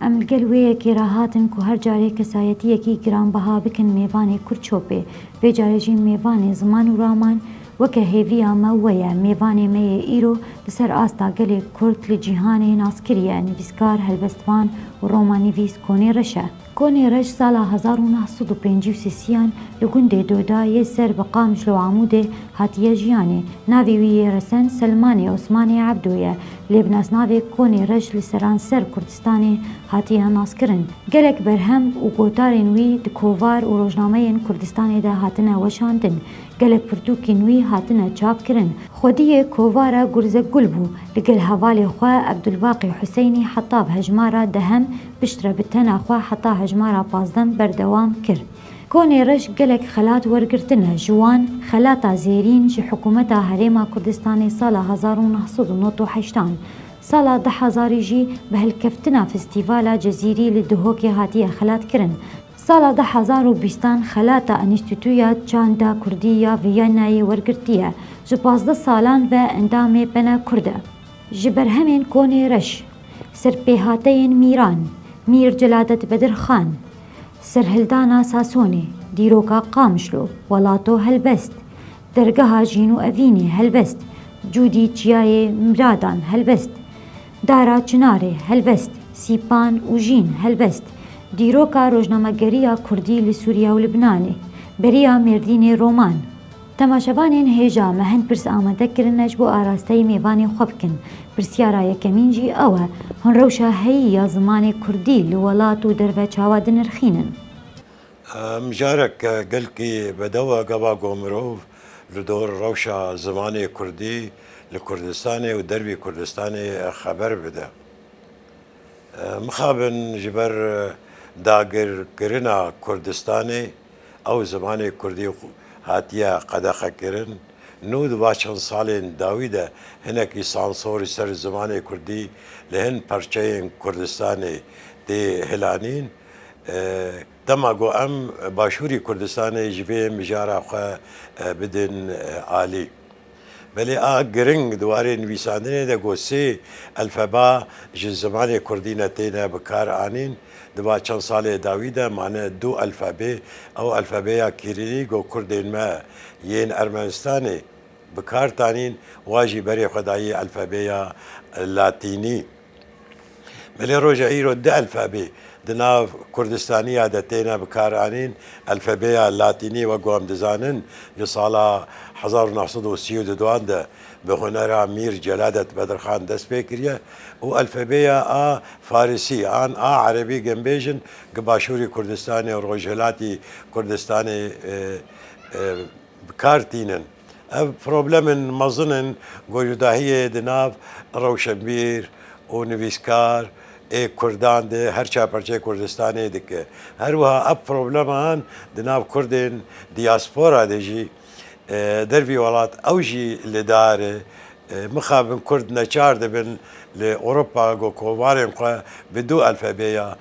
Em li gel wê yekê re hatin ku her carê kesayetiyekî giranbiha bikin mêvanê Kurd çopê. Vê carê jî mêvanê ziman û raman weke hêviya me we ye. Mêvanê me yê îro li ser asta gelê Kurd li cîhanê nas kiriye, nivîskar, helbestvan û romanivîs Konê Reş e. Konê Reş sala hezar û neh sed û pêncî û sîsiyan li gundê Doda yê ser bi Qamclo Amûdê hatiye jiyanê. Navê wî yê resen Selmanê Osmanê Ebdo ye. Lê bi nasnavê Konê Reş li seranser Kurdistanê hatiye naskirin. Gelek berhem û gotarên wî di kovar û rojnameyên Kurdistanê de hatine weşandin. Gelek pirtûkên wî hatine çapkirin. Xwediyê kovara Gurzek Gul bû. Li gel hevalê xwe Ebdulbaqî Huseynî heta bi hejmara dehem piştre bi tena xwe heta hejmara pazdem berdewam kir. Konê reş gelek xelat wergirtine ji wan xelata zêrîn ji hikûmeta Herêma Kurdistanê sala hezar û neh sed û nod û heştan, sala du hezarî jî bi hilkeftina festîvala Cezîrî li Duhokê hatiye xelatkirin, sala du hezar û bîstan xelata Înstîtuya Çanda Kurdî ya Vîyennayê wergirtiye, ji pazdeh salan ve endamê Pena Kurd e. Ji berhemên Konê reş, serpêhateyên Mîran, Mîr Celadet Bedir Xan, Serhildana Sasonê, dîroka Qamişlo, Welato helbest, dergeha Jîn û Evînê helbest, cûdî Çiyayê Miradan helbest, Dara Çinarê helbest, Sîpan û Jîn helbest, dîroka rojnamegeriya Kurdî li Sûriye û Libnanê, beriya Mêrdînê roman. Temaşevanên hêja me hin pirs amade kirine ji bo arasteyî mêvanê xwe bikin. Pirsyara yekemîn jî ew e, hûn rewşa heyî ya zimanê kurdî li welat û derve çawa dinirxînin? Mijarek gelkî bedew e gava ku mirov li dor rewşa zimanê kurdî li Kurdistanê û dervî Kurdistanê xeber bide. Mixabin ji ber dagirkirina Kurdistanê, Ew zimanê kurdî hatiye qedexekirin. Nû di va çend salên dawî de hinekî sansorî ser zimanê kurdî li hin parçeyên Kurdistanê tê hilanîn. Dema ku em Başûrî Kurdistanê ji vê mijara xwe bidin alî. Belê a giring di warê nivîsandinê de ku sê elfeba ji zimanê kurdî ne têne bi kar anîn, di va çend salê dawî de mane du elfebê, ew elfebeya Kîrîlî ku kurdên me yên Ermenistanê bi kar tanîn, wa jî berê xwe dayî elfebeya Latînî. Bi lê roja îro du elfebê di nav Kurdistaniya de têne bikaranîn, elfebeya Latînî wek ku em dizanin li sala hezar û neh sed û sî û du an de bi hunera Mîr Celadet Bedirxan dest pê kiriye û elfebeya a Farisî an a Erebî ginbêjin gi Başûrî Kurdistanê û Rojhilatî Kurdistanê bi kar tînin. Ev problemên mezin in ku ji dahiyê di nav rewşenbîr û nivîskar ê kurdan de her çar parçeyê Kurdistanê dike. Her wiha ev probleman di nav kurdên diaspora de jî dervî welat ew jî li dar e. Mixabin kurd neçar dibin li Ewropa ku komarên xwe bi du elfebeya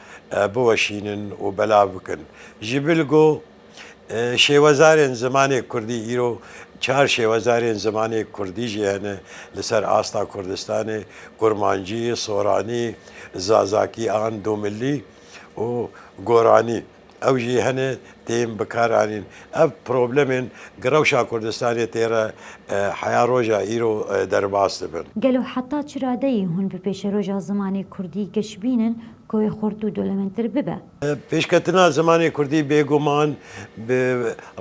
biweşînin û belav bikin. Ji bil ku. Şêwezarên zimanê kurdî Îro çar şêwezarên zimanê kurdî jî hene li ser asta Kurdistanê, Kurmancî, Soranî, Zazakî an Domillî û Goranî. Ew jî hene tên bikaranîn. Ev problemên gi rewşa Kurdistanê tê re heya roja îro derbas dibin. Gelo heta çi radeyê hûn bi pêşeroja zimanê kurdî geşbînin ku wê xurt û dolemendtir bibe? Pêşketina zimanê kurdî bêguman bi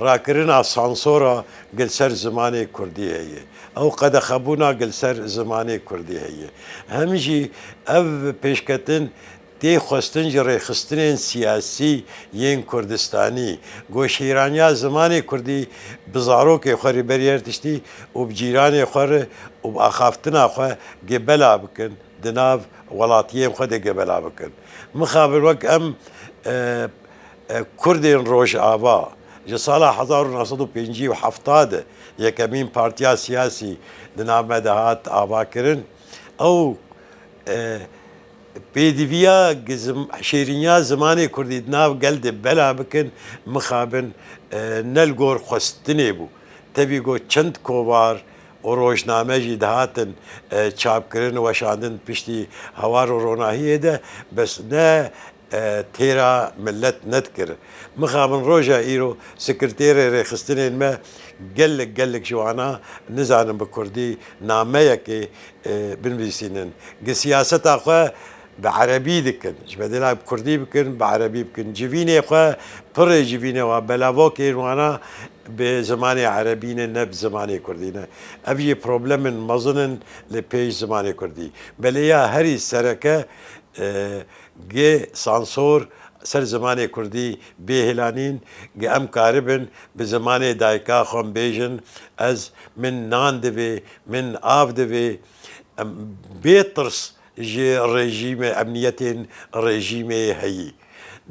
rakirina sansora gi li ser zimanê kurdî heye ew qedexebûna gi li ser zimanê kurdî heye. Hem jî ev pêşketin tê xwestin ji rêxistinên siyasî yên Kurdistanî ku şîraniya zimanê kurdî bi zarokê xwe rê berî her tiştî û bi cîranê xwe re û bi axaftina xwe gebela bikin di nav welatiyên xwe de gebela bikin. Mixabin wek em Kurdên Rojava ji sala hezar û neh sed û pêncî û hefta de yekemîn partiya siyasî di nav me de hat avakirin. Ew pêdiviya şêriniya zimanê Kurdî di nav gel de bela bikin mixabin ne li gor xwestinê bû. Tevî got çend kovar û rojname jî dihatin çapkirin û weşandin piştî hawar û ronahiyê de bes ne têra milet nedikir. Mixabin roja îro sekirtêrê rêxistinên me gelek gelek ji wana nizanin bi kurdî nameyekê binvîsînin gi siyaseta xwe Bi erebî dikin. Ji bedêla bi kurdî bikin, bi erebî bikin. Civînê xwe, pirrê civînê wan, belavokên wana bi zimanê erebî ne, ne bi zimanê kurdî ne. Ev jî problem in mezin in li pêş zimanê kurdî. Belê ya herî sereke gi sansor ser zimanê kurdî bê hêlanîn, gi em karibin bi zimanê dayika xwe em bêjin, ez, min nan divê, min av divê. Em bê tirs ji rejîmê emniyetên rejîmê heyî.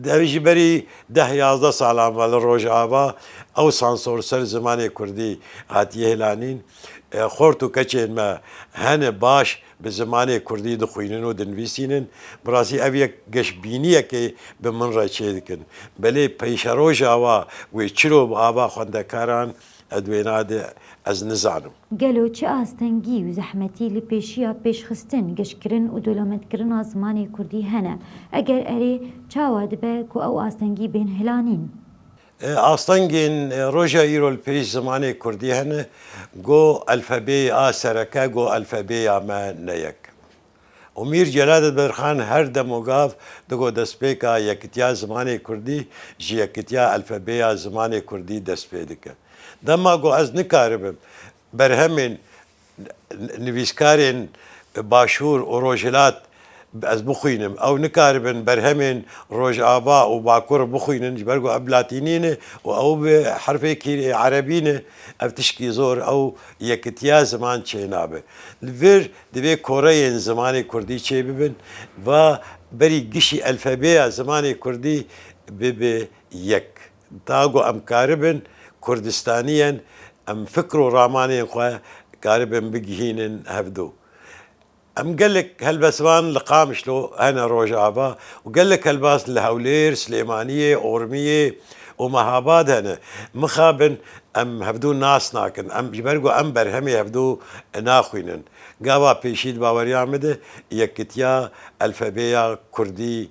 Ev ji berî deh yazdeh salan ve li Rojava ew sansor ser zimanê kurdî hatiye hêlanîn. Xort û keçên me hene baş bi zimanê kurdî dixwînin û dinivîsînin. Bi rastî ev yek geşbîniyekê bi min re çêdikin. Belê peyşerojava wê çiro bi ava xwendekaran Ed wêna de ez nizanim. Gelo çi astengî û zehmetî li pêşiya pêşxistin, giştkirin û dolametkirina zimanê kurdî hene? Eger erê, çawa dibe ku ew astengî bên hilanîn? Astengên roja îro li pêş zimanê kurdî hene, go elfebeyê a sereke, go elfebêya me ne yek. Omîr Celaletberxan her demogav digo destpêka yekitiya zimanê kurdî ji yekitiya elfebeya zimanê kurdî dest pê dike. Dema ku ez nikaribim berhemên nivîskarên Başûr û Rojhilat ez bixwînim, ew nikaribin berhemên Rojava û Bakur bixwînin ji ber ku ev latînî ne û ew bi herfê kîrê erebî ne, ev tişkî zor ew yekitiya ziman çênabe. Li vir Divê koreyên zimanê kurdî çê bibin, va berî gişî elfebeya zimanê kurdî bibe yek. Ta ku em karibin kurdistaniyen, em fikr û ramanên xwe karibin bigihînin hevdu. Em gelek helbestvan li Qamişlo hene rojava û gelek helbast li Hewlêr, Silêmaniyê, Ormiyê û Mehabad hene. Mixabin Em hevdu nas nakin. Em ji ber ku em berhemê hevdu naxwînin. Gava pêşî di baweriya min de yekkitiya elfebeya kurdî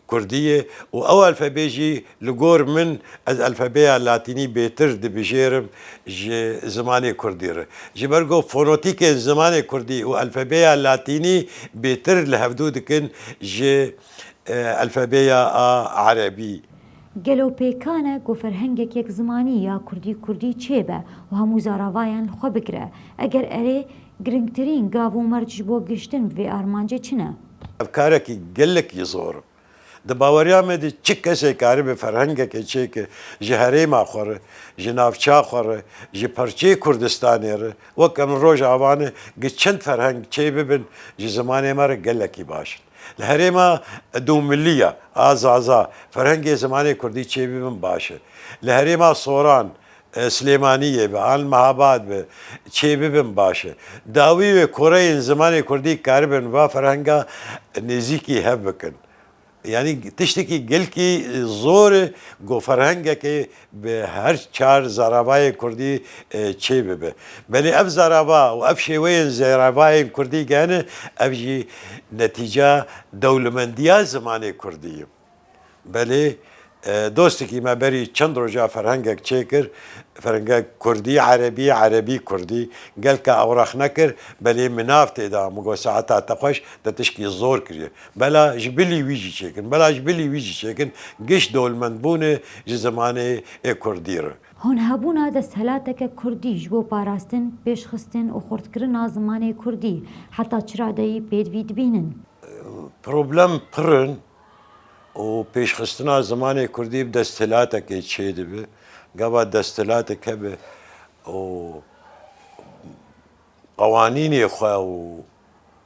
kurdî ye û ew elfebê jî li gor min ez elfebeya latînî bêtir dibijêrim ji zimanê kurdî re. Ji ber ku fonotîkên zimanê kurdî û elfebeya latînî bêtir li hevdu dikin ji elfebeya erebî. Gelo pêkan e ku ferhengek yekzimanî ya kurdî kurdî çêbe û hemû zaravayan li xwe bigire? Eger erê, giringtirîn gav û merc ji bo gihiştin bi vê armancê çi ne? Ev karekî gelek jî zor in. Di baweriya me de çi kesê karibe ferhengekê çêke ji herêma xwe re, ji navçeya xwe re, ji parçeyê Kurdistanê re, wek em li Rojavayê ne, giçind ferheng çêbibin ji zimanê me re gelekî baş in. Li herêma dûmilî ya a Zaza ferhengê zimanê kurdî çêbibin baş e. Li herêma Soran, Silêmaniyê be an li Mehabad be çêbibin baş e. Dawî wê koreyên zimanê kurdî karibin va ferhenga nêzîkî hev bikin. Yanî tiştekî gelkî zor e ku ferhengekê. bi her çar zaravayên kurdî çê bibe. Belê ev zarava û ev şêweyên zaravayên kurdî gehne ev jî netîca dewlemendiya zimanê kurdî ye. Belê dostekî me berî çend roja ferhengek çê kir, ferhengek kurdî erebî, erebî kurdî. Gelka ewrax nekir belê min nav tê da. Min got saeta te xweş te tişkî zor kiriye. Bela ji bilî wî jî çêkin. Bela ji bilî wî jî çêkin. Giş dewlmend bûn e ji zimanê ê kurdî re. Hûn hebûna desthilateke kurdî ji bo parastin, pêşxistin û xurtkirina zimanê kurdî heta çi radeyî pêdvî dibînin? Problem pirr in û pêşxistina zimanê kurdî bi desthilatekê çê dibe. Gava desthilatek hebe û qewanînê xwe û.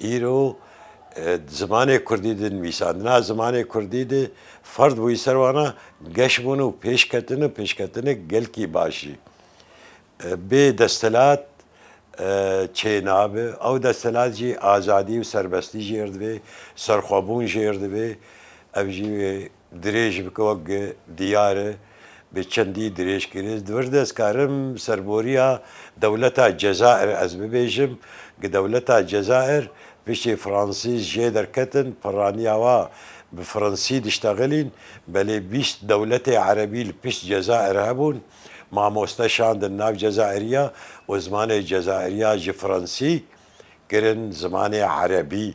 Îro di zimanê kurdî de nivîsandina zimanê kurdî de ferd bûyî ser wan a geş bûn û pêşketin û pêşketinek gelkî baş jî. Bê desthilat çê nabe. Ew desthilat jî azadî û serbestî jêr divê, serxwebûn jêr divê. Ev jî wê Dirêj bike wek gi diyar e, bi çendî dirêj kiriz. Di vir de ez karim serboriya dewleta Cezayir ez bibêjim. Gi dewleta Cezayir piştî Fransîz jê derketin, pirraniya wa bi Fransî diştexilîn. Belê bîst dewletê Erebî li pişt Cezayir hebûn. Mamoste şandin nav Cezayiriya û zimanê Cezayiriya ji Fransî kirin zimanê Erebî.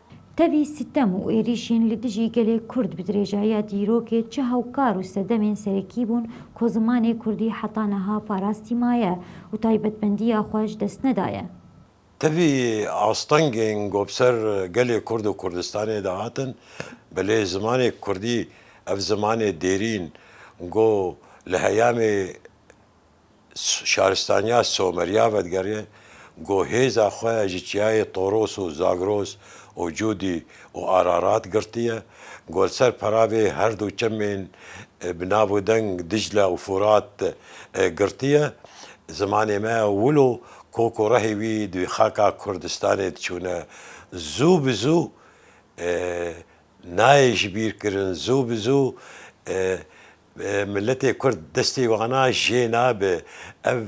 Tevî sitem û êrîşên li dijî gelê Kurd bi dirêjaiya dîrokê çi hewkar û sedemên serekî bûn ku zimanê Kurdî heta niha parastî maye û taybetmendiya xwe ji dest nedaye. Tevî astengên ku bi ser gelê Kurd û Kurdistanê de hatin, bi lê zimanê Kurdî ev zimanê dêrîn ku li heyamê. Şaristaniya Somerya vedigerîne ku hêza xwe ji çiyayê Toros û Zagros û Cûdî û Ararat girtiye ku li ser peravê her du çemên bi nav û deng Dîcle û Furat girtiye. Zimanê me wilo kok û rehê wî di xaka Kurdistanê diçûne zû bi zû nayê ji bîr kirin, zû bi zû Miletê kurd destê wana jê nabe. Ev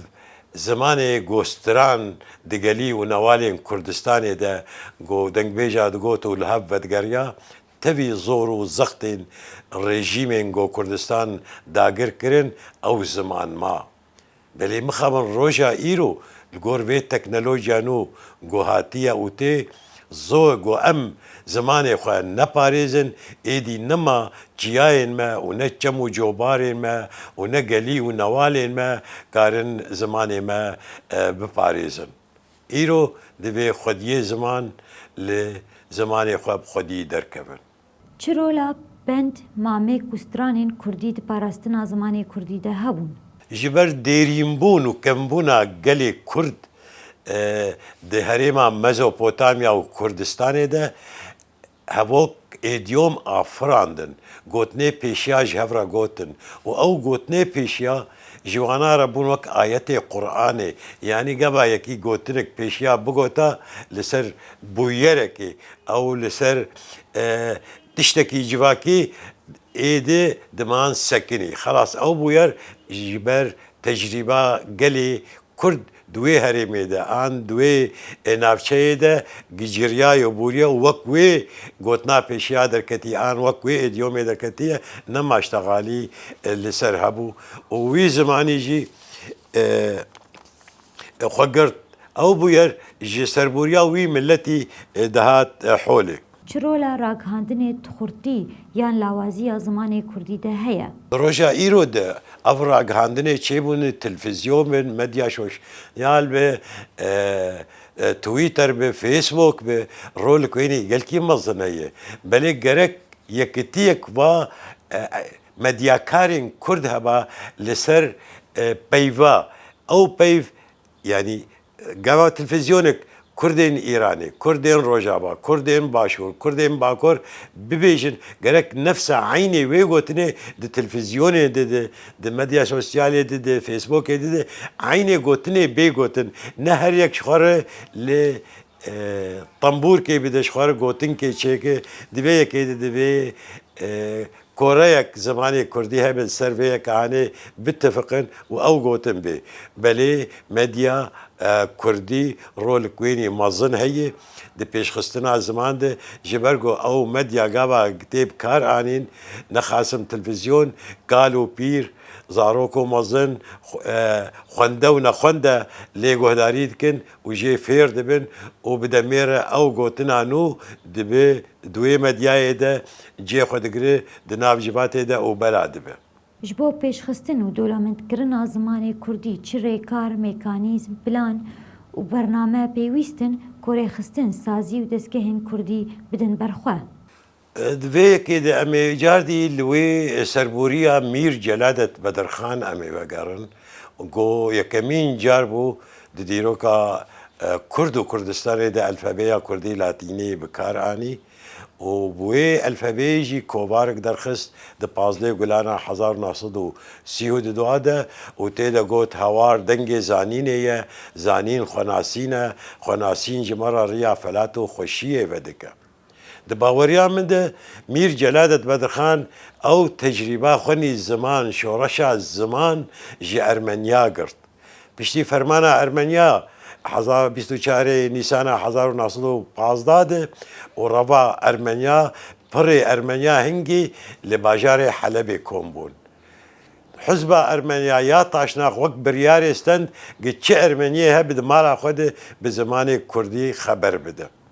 zimanê gostiran digelî û newalên Kurdistanê de ku dengbêja digot û li hev vedigerya tevî zor û zextên rejîmên ku Kurdistan dagir kirin ew ziman ma. Belê mixabin roja îro li gor vê teknolojiya nû ku hatiye û tê, zor ku em zimanê xwe neparêzin, êdî nema çiyayên me û ne çem û cobarên me û ne gelî û newalên me karin zimanê me biparêzin. Îro divê xwediyê ziman li zimanê xwe bi xwediyî derkevin. Çi rola pend mamê ku stranên kurdî di parastina zimanê kurdî de hebûn? Ji ber dêrînbûn û kembûna gelê kurd di herêma Mezopotamya û Kurdistanê de hevok êdîyom a firandin, gotinê pêşiya ji hev re gotin û ew gotinê pêşiya Ji wana re bûn wek ayetê Quranê, yanî gava yekî gotinek pêşiya bigota li ser bûyerekê ew li ser tiştekî civakî êdî diman sekinî. Xelas ew bûyer ji ber tecrîba gelê Kurd di wê herêmê de an di wê navçeyê de giciriyaye û bûriye û wek wê gotina pêşiya derketî an wek wê îdyomê derketiye ne maştegalî li ser hebû û wî zimanî jî xwe girt. Ew bûyer ji serbûriya wî miletî dihat holê. Çi rola ragihandinê di xurtî yan lawazî ya zimanê kurdî de heye? Di roja îro de ev ragihandinê çêbûne, televîzyon be, medya sosyal be, twitter be, facebook be, rolek wênî gelkî mezin heye. Belê gerek yekitiyek va medyakarên kurd heba li ser peyva. Ew peyv yanî Gava televîzyonek kurdên Îranê, kurdên Rojava, kurdên Başûr, kurdên Bakur bibêjin gerek nefsa eynê wê gotinê di televîzyonê de de, di medya sosyalê de de, Facebookê de de eynê gotinê bê gotin. Ne her yek ji xwe re li tembûrkê bide, ji xwe re gotinkê çêke. Di vê yekê de di vê Koreyek zimanê kurdî hebin ser vê yek anê bitifiqin û ew gotin bê. Belê medya kurdî rolek wênî mezin heye di pêşxistina ziman de ji ber ku ew medya gava tê bi kar anîn nexasim televîzyon, kal û pîr, zarok û mezin, xwende û nexwende lê guhdarî dikin û jê fêr dibin û bi demê re ew gotina nû dibe duê medyayê de cê xwe digire di nav civatê de û bela dibe. Ji bo pêşxistin û dolamendkirina zimanê kurdî çi rêkar, mekanîzm, plan û bername pêwîst in ku rêxistin, sazî û destgehên kurdî bidin ber xwe? Di vê yekê de em ê cardî li wê serborîya Mîr Celadet Bedirxan em ê vegerin ku yekemîn car bû di dîroka Kurd û Kurdistanê de elfebeya Kurdî Latînî bi kar anî û bi wê elfebeyê jî kovarik derxist di pazdeh gulana hezar û neh sed û sî û du a de û tê de got, Hawar dengê zanînê ye, zanîn xwenasîn e, xwenasîn ji me re riya felat û xweşiyê vedike. Di baweriya min de Mîr Celadet Bedirxan ew tecrîba xwe nî ziman, şoreşa ziman ji Ermeniya girt. Piştî fermana Ermeniya heza bîst û çar ê Nîsana hezar û neh sed û pazdeh de û reva Ermeniya pirê Ermeniya hingî li bajarê Helebê kom bûn. Hizba Ermeniya ya Taşnax wek biryarê stend gi çi Ermeniyê hebe di mala xwe de bi zimanê Kurdî xeber bide.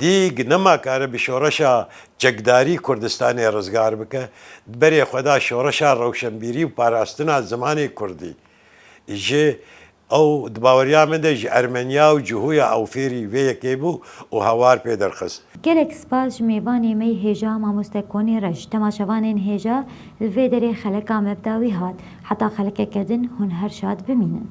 Dîg nema kare bi şoreşa çekdarî Kurdistanê rizgar bike, di berê xwe da şoreşa rewşenbîrî û parastina zimanê kurdî jî. Ew di baweriya min de ji Ermeniya û Cuhuya ew fêrî vê yekê bû û hawar pê derxist. Gelek spas ji mêvanê me yê hêja Mamoste Konê Reş. Dema şevanên hêja li vê derê xeleka me bi dawî hat. Heta xelekeke din hûn her şad bimînin.